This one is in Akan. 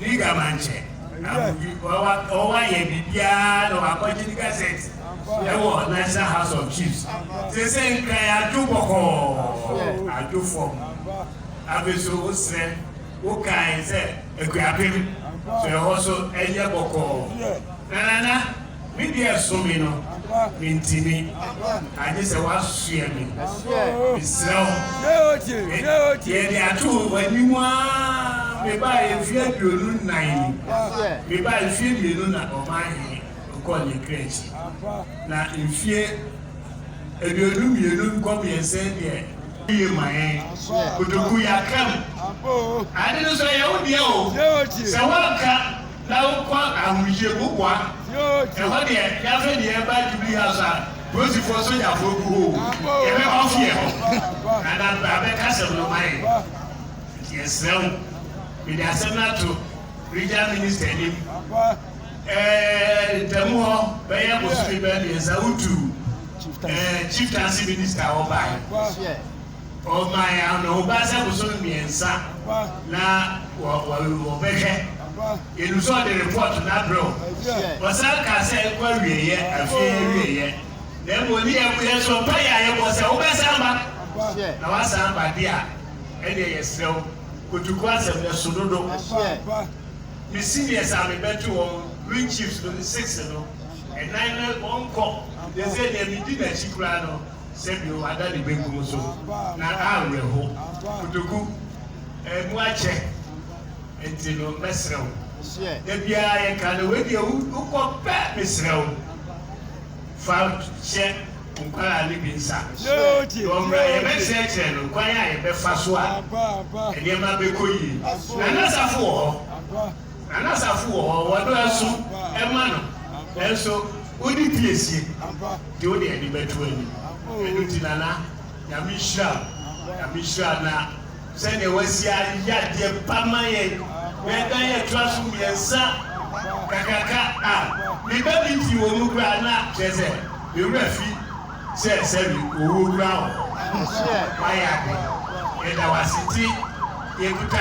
Liga Manche na wɔayɛ biribiara na wɔakɔgye ne gazette wɔ National House of Chiefs. Sese nkran adwo bɔkɔɔ, adwo fam. Afei nso wosrɛ, wokae sɛ akuapem so ɛhɔ so ɛyɛ bɔkɔɔ. Nanana. Me deɛ so me no mentimi agye sɛ woasoɛ me mesrɛ wo yɛde ato w'anim aa mebaeɛ mfeɛ aduonu nnan ni mebaeɛ mfeɛ mmienu na ɔman he nkɔɔ ne kra akyi na mfeɛ aduonu mmienu nkɔ mmiɛnsa deɛ yie ma yɛn kotoku yɛakam ade no so ɛyɛ wo deɛ o sɛ woanka na wokɔ ahurisie wo boa ɛhɔ deɛ yɛasɛ deɛ ɛba jubilee house a polisifoɔ sogyafoɔ gu hɔ o yɛbɛ ɔfi ɛhɔ na na bra bɛka sɛm no ma yɛn nti yɛsrɛ wo mede asɛm no ato regional minister anim ɛɛ ntamu hɔ bɛyɛ bosome bɛɛ mmiɛnsa wotu ɛɛ chieftaincy minister hɔ bae Ɔmae anohoba sɛ bosono mmiɛnsa na wɔbɛhwɛ. Yɛnim sɛ ɔde repɔɔto no abrɛ wo. Ɔsan kaa sɛ ɛnkɔ awieeɛ, afie awieeɛ. Na mmom ɔni yɛn mu yɛn so mpaeɛ a yɛbɔ sɛ wobɛsan ba. Na woasan ba deɛ a, ɛnneɛ yɛsrɛ wo, kotuku asɛm no so dodo. Me seniors a mebɛto wɔn, Green Chiefs no ne Six no, ɛnan no wɔnkɔ. Deɛ ɛsɛ deɛ medi n'akyi koraa no. sɛ deɛ wada ne benkum so na awerɛho. Kotoku, ɛmu akyɛ nti no mɛsrɛ wo. Da biara yɛka no, wei deɛ wokɔ pɛ mesrɛ wo. Fa hyɛ nkwadaa no bi nsa na ɔmmra yɛbɛkyerɛkyerɛ no kwan a yɛbɛfa so a nneɛma bɛkɔ yie. Nana Safo wɔ hɔ. Na n'asafo wɔ hɔ, wɔdɔɔso ma no, nanso onni piesie, nti wode ani bɛto ani. Ɛno nti Nana, Nyame nhyira wo, Nyame nhyira wo, na sɛdeɛ woasi ayɛ adeɛ pa ma yɛn, na ɛda yɛ toa so mmiɛnsa kakraka a, me ba bi firi wɔn mu koraa na kyerɛ sɛ me werɛ fi sɛ sɛbi owuo koraa wɔ hɔ, woayɛ ade, yɛda wo ase, nti yɛkuta.